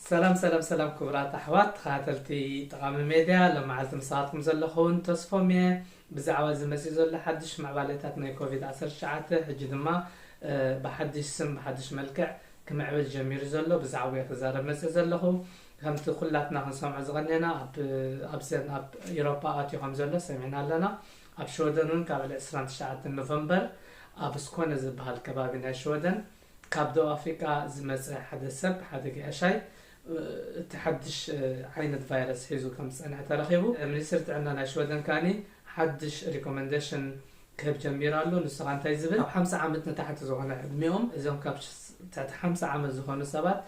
ሰላም ሰላም ሰላም ክቡራት ኣሕዋት ተኸታተልቲ ጠቓሚ ሜድያ ሎመዓልቲ ምሳኻትኩም ዘለኹውን ተስፎም እየ ብዛዕባ እዚ መፅኡ ዘሎ ሓድሽ ምዕባለታት ናይ ኮቪድ 19 ሕጂ ድማ ብሓድሽ ስም ብሓድሽ መልክዕ ክምዕብል ጀሚሩ ዘሎ ብዛዕባ ክዛረብ መፅእ ዘለኹ ከምቲ ኩላትና ክንሰምዖ ዝቐነና ኣብ ኣብዘን ኣብ ኢሮፓ ኣትዩ ከም ዘሎ ሰሚዕና ኣለና። ኣብ ሽወደን ውን ካብ ዕለት ዕስራን ትሽዓተን ኖቨምበር ኣብ ስኮነ ዝብሃል ከባቢ ናይ ሽወደን ካብ ደቡብ ኣፍሪቃ ዝመጸ ሓደ ሰብ ሓደ ገያሻይ እቲ ሓድሽ ዓይነት ቫይረስ ሒዙ ከም ዝጸንሐ ተረኺቡ። ሚኒስትሪ ጥዕና ናይ ሽወደን ከኣ ሓድሽ ሪኮመንደሽን ክህብ ጀሚሩ ኣሎ። ንሱ ከኣ እንታይ ዝብል ካብ ሓምሳ ዓመት ንታሕቲ ዝኾነ ዕድሚኦም እዞም ካብ ትሕቲ ሓምሳ ዓመት ዝኾኑ ሰባት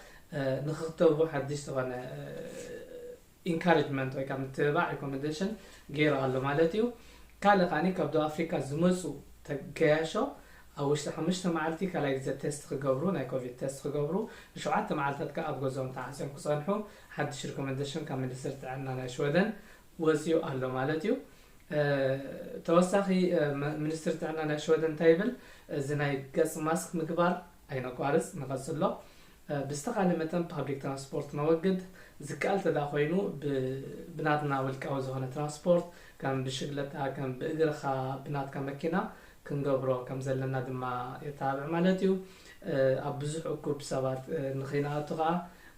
ንክክተቡ ሓድሽ ዝኾነ ኢንካረጅመንት ወይ ከዓ ምትብባዕ ሪኮመንደሽን ገይሩ ኣሎ ማለት እዩ። ካልእ ከዓኒ ካብ ደቡብ ኣፍሪካ ዝመፁ ገያሾ ኣብ ውሽጢ ሓሙሽተ መዓልቲ ካልኣይ ግዘ ቴስት ክገብሩ ናይ ኮቪድ ቴስት ክገብሩ ንሸውዓተ መዓልታት ከዓ ኣብ ገዝኦም ተዓፅዮም ክፀንሑ ሓድሽ ሪኮመንደሽን ካብ ሚኒስትሪ ጥዕና ናይ ሽወደን ወፂኡ ኣሎ ማለት እዩ። ተወሳኺ ሚኒስትሪ ጥዕና ናይ ሽወደን እንታይ ይብል እዚ ናይ ገፅ ማስክ ምግባር ኣይነቋርጽ ንቐጽሎ ብዝተኻለ መጠን ፓብሊክ ትራንስፖርት ነወግድ ዝከኣል ተደኣ ኮይኑ ብናትና ውልቃዊ ዝኾነ ትራንስፖርት ከም ብሽግለታ ከም ብእግርኻ ብናትካ መኪና ክንገብሮ ከም ዘለና ድማ የተባብዕ ማለት እዩ ኣብ ብዙሕ እኩብ ሰባት ንኸይንኣቱ ከኣ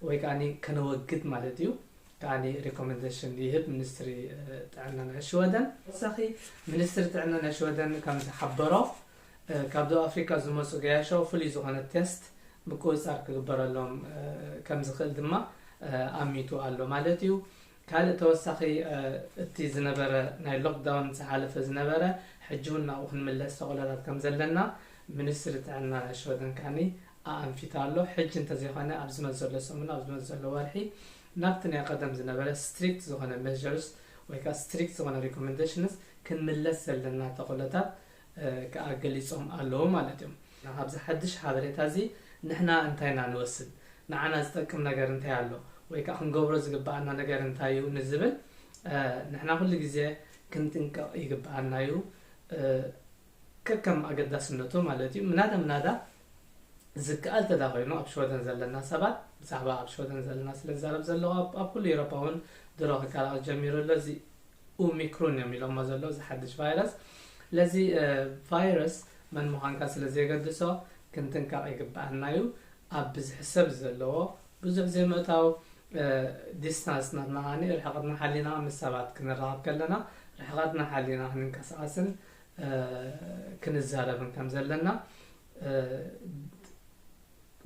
ወይ ከኣ ከነወግድ ማለት እዩ ከኣ ሪኮመንደሽን ይህብ ሚኒስትሪ ጥዕና ናይ ሽወደን ተወሳኺ ሚኒስትሪ ጥዕና ናይ ሽወደን ከም ዝሓበሮ ካብ ደቡብ ኣፍሪካ ዝመፁ ገያሾ ፍሉይ ዝኾነ ቴስት፣ ምቁፅፃር፣ ክግበረሎም ከምዝኽእል ድማ ኣሚቱ ኣሎ ማለት እዩ። ካልእ ተወሳኺ እቲ ዝነበረ ናይ ሎክዳውን ዝሓለፈ ዝነበረ ሕጂ እውን ናብኡ ክንምለስ ተኽእሎታት ከምዘለና ሚኒስትሪ ጥዕና ናይ ሽወደን ከኣ ኣኣንፊቱ ኣሎ። ሕጂ እንተዘይኾነ ኣብ ዝመፅእ ዘሎ ሰሙን ኣብ ዝመፅእ ዘሎ ወርሒ ናብቲ ናይ ቐደም ዝነበረ ስትሪክት ዝኾነ ሜዠርስ ወይ ከኣ ስትሪክት ዝኾነ ሪኮመንደሽንስ ክንምለስ ዘለና ተኽእሎታት ከኣ ገሊጾም ኣለዉ ማለት እዮም። ካብዚ ሓድሽ ሓበሬታ እዚ ንሕና እንታይ ኢና ንወስድ? ንዓና ዝጠቅም ነገር እንታይ ኣሎ? ወይ ከኣ ክንገብሮ ዝግብኣና ነገር እንታይ እዩ? ንዝብል ንሕና ኩሉ ግዜ ክንጥንቀቕ ይግብኣና እዩ። ከከም ኣገዳስነቱ ማለት እዩ። ምናዳ ምናዳ ዝከኣል ተዳኾይኑ ኣብ ሽወደን ዘለና ሰባት ብዛዕባ ኣብ ሽወደን ዘለና ስለ ዝዛረብ ዘለዎ ኣብ ኩሉ ኤሮፓ እውን ድሮ ክከላቐል ጀሚሩ ኣሎ እዚ ኡሚክሩን እዮም ኢሎሞ ዘሎ እዚ ሓድሽ ቫይረስ ለዚ ቫይረስ መን ምዃንካ ስለ ዘየገድሶ ክንጥንቀቕ ይግብኣና እዩ ኣብ ብዝሒ ሰብ ዘለዎ ብዙሕ ዘይምእታው ዲስታንስ ናትና ርሕቐትና ሓሊና ምስ ሰባት ክንራኸብ ከለና ርሕቐትና ሓሊና ክንንቀሳቐስን ክንዛረብን ከም ዘለና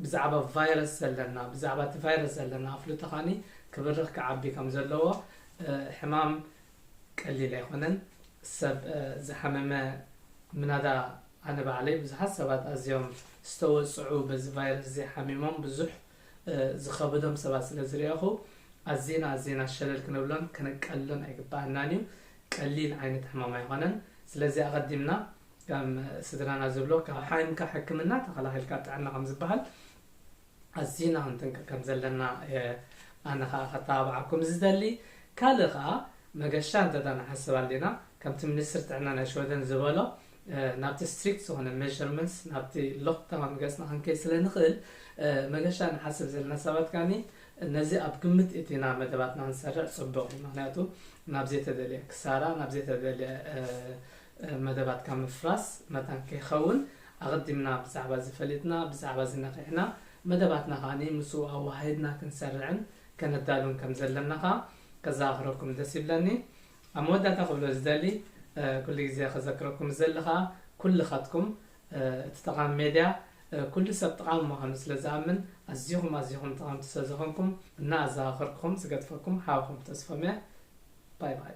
ብዛዕባ ቫይረስ ዘለና ብዛዕባ እቲ ቫይረስ ዘለና ኣፍልጦ ኸኒ ክብርኽ ክዓቢ ከም ዘለዎ ሕማም ቀሊል ኣይኮነን ሰብ ዝሓመመ ምናዳ ኣነ ባዕለይ ብዙሓት ሰባት ኣዝዮም ዝተወፅዑ በዚ ቫይረስ እዚ ሓሚሞም ብዙሕ ዝኸበዶም ሰባት ስለ ዝርኣኹ ኣዚና ኣዚና ሸለል ክንብሎን ከነቃልሎን ኣይግብኣናን እዩ። ቀሊል ዓይነት ሕማም ኣይኮነን። ስለዚ ኣቐዲምና ከም ስድራና ዝብሎ ካብ ሓይምካ ሕክምና ተኸላኺልካ ጥዕና ከም ዝበሃል ኣዚና ክንጥንቀቕ ከም ዘለና ኣነ ከዓ ከተባብዓኩም ዝደሊ ካልእ ከዓ መገሻ እንተ ንሓስብ ኣሊና ከምቲ ሚኒስትር ጥዕና ናይ ሽወደን ዝበሎ ናብቲ ስትሪክት ዝኾነ መዠርመንትስ ናብቲ ሎክዳውን ገጽና ክንከይድ ስለ ንኽእል መገሻ ንሓስብ ዘለና ሰባት ከኣ ነዚ ኣብ ግምት እቲና መደባትና ክንሰርዕ ጽቡቕ እዩ። ምኽንያቱ ናብ ዘይተደልየ ክሳራ ናብ ዘይተደልየ መደባትካ ምፍራስ መታን ከይኸውን ኣቐዲምና ብዛዕባ እዚ ፈሊጥና ብዛዕባ እዚ ነቒሕና መደባትና ከኣ ምስኡ ኣወሃሂድና ክንሰርዕን ከነዳሉን ከም ዘለና ከኣ ከዘኻኽረኩም ደስ ይብለኒ። ኣብ መወዳእታ ክብሎ ዝደሊ ኩሉ ግዜ ከዘክረኩም ዝደሊ ከኣ ኩልኻትኩም እቲ ጠቓሚ ሜድያ ኩሉ ሰብ ጠቓሚ ምዃኑ ስለ ዝኣምን ኣዚኹም ኣዚኹም ጠቐምቲ ስለ ዝኾንኩም እና ኣዘኻኸርኩኹም ዝገድፈኩም ሓውኹም ተስፎም'የ ባይ ባይ።